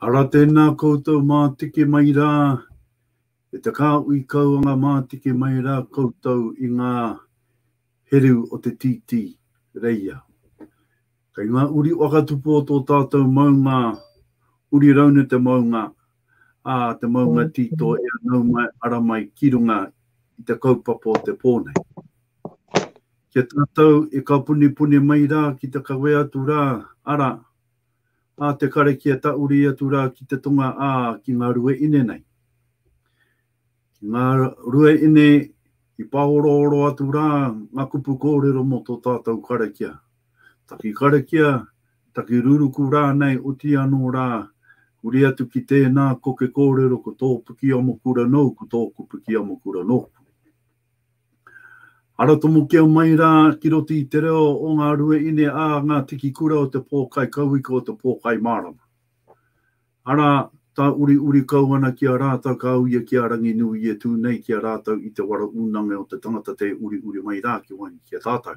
Ara tēnā koutou mātiki mai rā, e te kāhui kau anga mātiki mai rā koutou i ngā heru o te tītī, reia. Kei ngā uri whakatupu o tō tātou maunga uri raune te maunga, ā, te maunga tīto e anau mai, ara mai ki runga i te kaupapa o te pō nei. Ki a tātou e kapunipuni mai rā ki te kawea atu rā, ara, a te karakia tauri atu rā ki te tonga ā ki ngā rue ine nei. Ki ngā rue ine i pāorooro atu rā ngā kupu kōrero mō tō tātou karakia. Taki karakia, taki ruruku rānei oti anō rā, huri atu ki tēnā koke kōrero ko tō Pukiamokura nōku, tōku Pukiamokura nōku. Ara tomokia mai rā ki roto i te reo o ngā rua ine ā ngā tiki kura o te pōkai kauika o te pōkai mārama. Ara, tāuriuri kau ana ki a rātou ka au ia ki a Ranginui i e tū nei ki a rātou i te waro unange o te tangata tē uriuri mai rā ki waenga ki a tātou.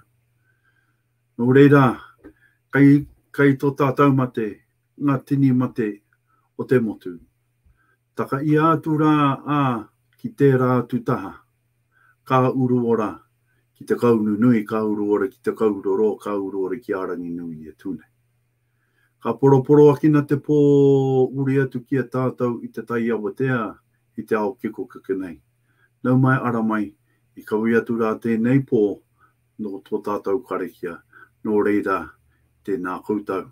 Nō reira, kei, kei tō tātou mate ngā tini mate o te motu. Takaia atu rā a ki tērā atu taha, ka uru ora ki te kau nunui, ka uru ora ki te kau roro, ka uru ora ki a Ranginui e tu nei. Ka poroporoakina te pō uri atu ki a tātou i te tai awatea i te ao kekokeke nei. Nau mai ara mai, i kawea atu rā tēnei pō nō tō tātou karakia, nō reira, tēnā koutou.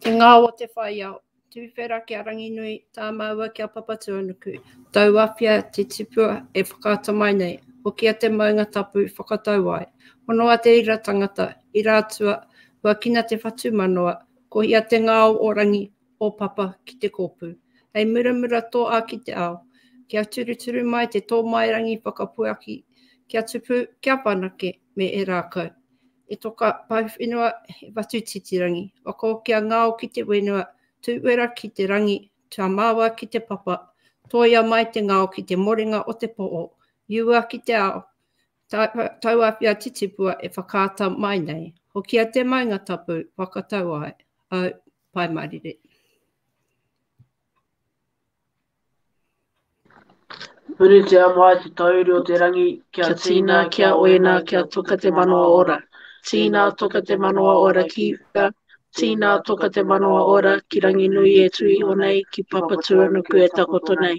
Te ngao o te whaiao. Tuwhera ki a Ranginui, tā māua ki a Papatuanuku. Tau awhia te tipua e whakaata mai nei. Hokia te maunga tapu, whakatau ai. Honoa te ira tangata, ira atua, huakina te whatumanawa, kohia te ngao o Rangi, o Papa ki te kōpū. Hei muramura tō a ki te ao, kia turuturu mai te tōmairangi whakapuaki kia tupu, kia whanake me e rākau. E toka pahu whenua he watu titirangi, wako kia ngao ki te wenua, tu wera ki te rangi, tua mawa ki te papa, toia mai te ngao ki te morenga o te po'o, iua ki te ao, tauawhia titipua e whakaata mai nei, hokia te maunga tapu, whakatau ai, au. Pai Marire. Puritia mai te tauri o te rangi, kia tīna, kia oina, kia toka te manawa ora. Tīna toka te manawa ora ki uta, tīna toka te manawa ora ki Ranginui e tū iho nei, ki Papatūanuku e takoto nei.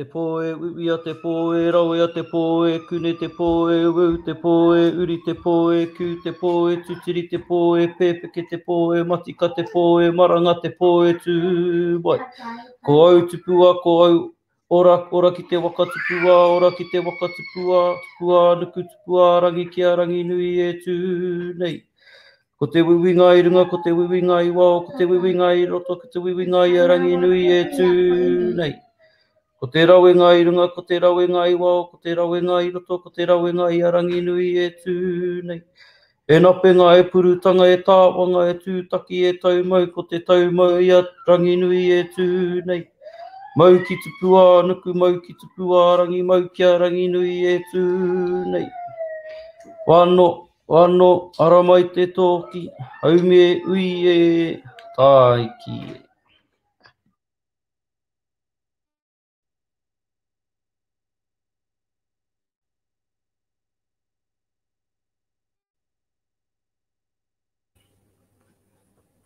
Te pō e uia, te pō e rawea, te pō e kune, te pō e wū, te pō e uri, te pō e kū, te pō e tutiri, te pō e pēpeke, te pō e matika, te pō e maranga, te pō e tū wai. Ko au tupua, ko au ora, ora ki te waka tupua, ora ki te waka tupua, tupua nuku, tupua rangi ki a Ranginui e tū nei. Ko te wiwi ngā i runga, ko te wiwi ngā i wao, ko te wiwi ngā i roto, ko te wiwi ngā i a rangi nui e tū nei. Ko te rawe ngā i runga, ko te rawe ngā i wao, ko te rawe ngā i roto, ko te rawe ngā i a rangi nui e tū nei. E napenga, e purutanga, e tāwanga, e tūtaki, e taumau, ko te taumau i a rangi nui e tū nei. Mau ki tupu ā nuku, mau ki tupu ā rangi, mau ki a rangi nui e tū nei. Wano, Wano ara mai te toki, haume ui e, tāiki e.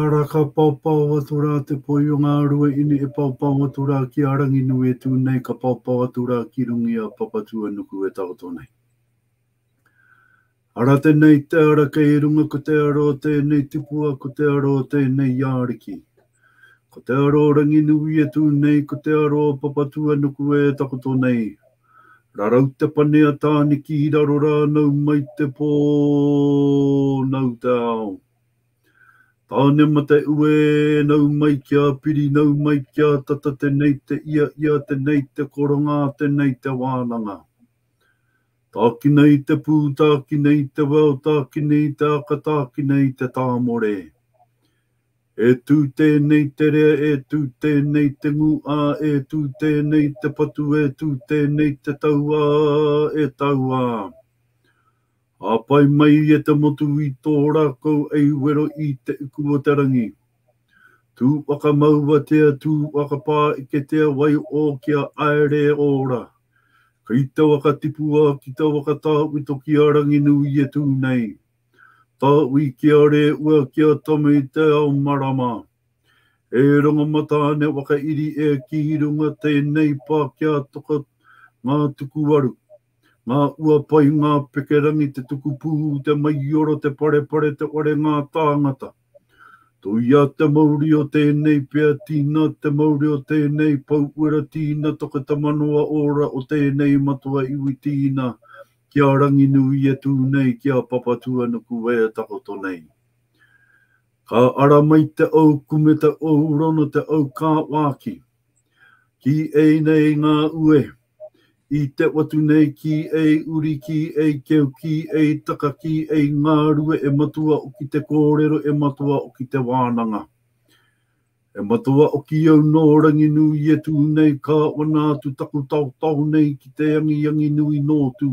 Ara, ka paopao atu ra te poi o nga rua ine e paopao atu ra ki a Ranginui e tu nei, ka paopao atu ra ki runga i a Papatuanuku e taoto nei. Ara tenei te ara kei runga ko te ara o tenei tipua ko te ara o tenei iariki. Ko te aro Ranginui e tū nei ko te aro Papatūanuku e takoto nei. Rarau te pane a Tāniki i raro rā nau mai te pō nau te ao. Tānemataue nau mai kia piri nau mai kia tata tenei te ia ia tenei te koronga tenei te wānanga. Tākina i te pū tākina i te wao tākina i te aka tākina i te tāmore. E tū tēnei te rea e tū tēnei te ngū ā e tū tēnei te patu e tū tēnei te tau ā e tau ā Ā pai mai e te motu i tō rākau ei wero i te iku o te rangi Tū whakamauatea tū whakapāeketea wai ō kia aere e ora Kei te waka tipua ki te waka tāwito ki a Ranginui e tū nei Ta ui ki a re ua ki a Tama i te ao marama. E rongo mataane wakairi e ki runga tenei pa ki a toka nga tuku aru. Nga ua pai nga pekerangi te tuku pu te maioro te parepare te ware nga tangata. Toia te mauri o tēnei pia tina, te mauri o tēnei pou uera tina, toka te manawa ora o tēnei matua iwi tina, ki a Ranginui e tū nei, ki a Papatūanuku e takoto nei. Ka ara mai te au kume te au rona te au kāwāki, Ki ei nei ngā ue. I te watu nei ki ei uri ki ei keu ki ei taka ki ei ngārue e matua oki te kōrero e matua oki te wānanga. E matua oki au nō Ranginū i e tū nei ka wana atu taku taotao nei ki te angiangi nui nō tū.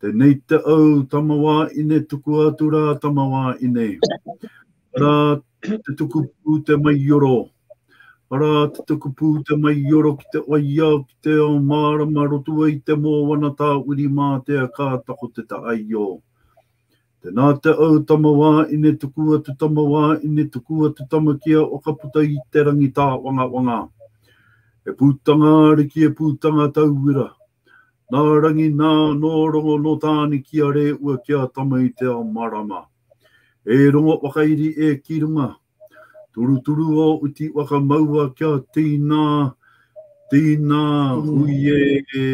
Tenei te au tama wa ine tuku atu ra tama wa ine. Ara te tuku pu te mai ioro. Ara te tuku pu te mai ioro ki te waiau ki te ao marama rotua i te moana ta wiri matea ka tako te ta aio. Tena te ou tama wa ine tuku atu tama wa ine tuku atu tama kia o ka puta i te rangi ta wanga wanga. E putanga ariki e putanga tauira. Na rangi na no rongo no tani kia re ua kia tama i te ao marama. E rongo wakairi e ki runga. Turuturu o uti waka maua kia tīnā, tīnā huie e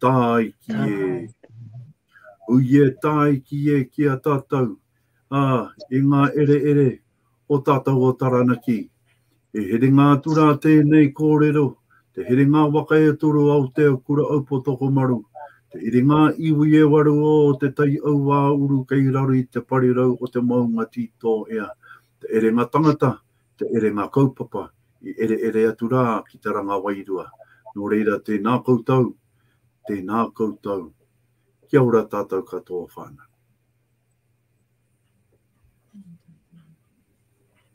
tāiki e. Huie tāiki e ki a tātou, ā, i ngā ere ere o tātou o Taranaki, He herenga atu rā tēnei kōrero, te herenga waka e toru a Aotearoa-Kura-Aupō-Tokomaru, te herenga iwi e waru o Te Tai Auāuru kei raro i te parirau o te maunga tītō ea, te herenga tangata, te herenga kaupapa i ereere atu rā ki te ranga wairua. Nō reira, tēnā koutou, tēnā koutou. Kia ora tātou katoa whānau.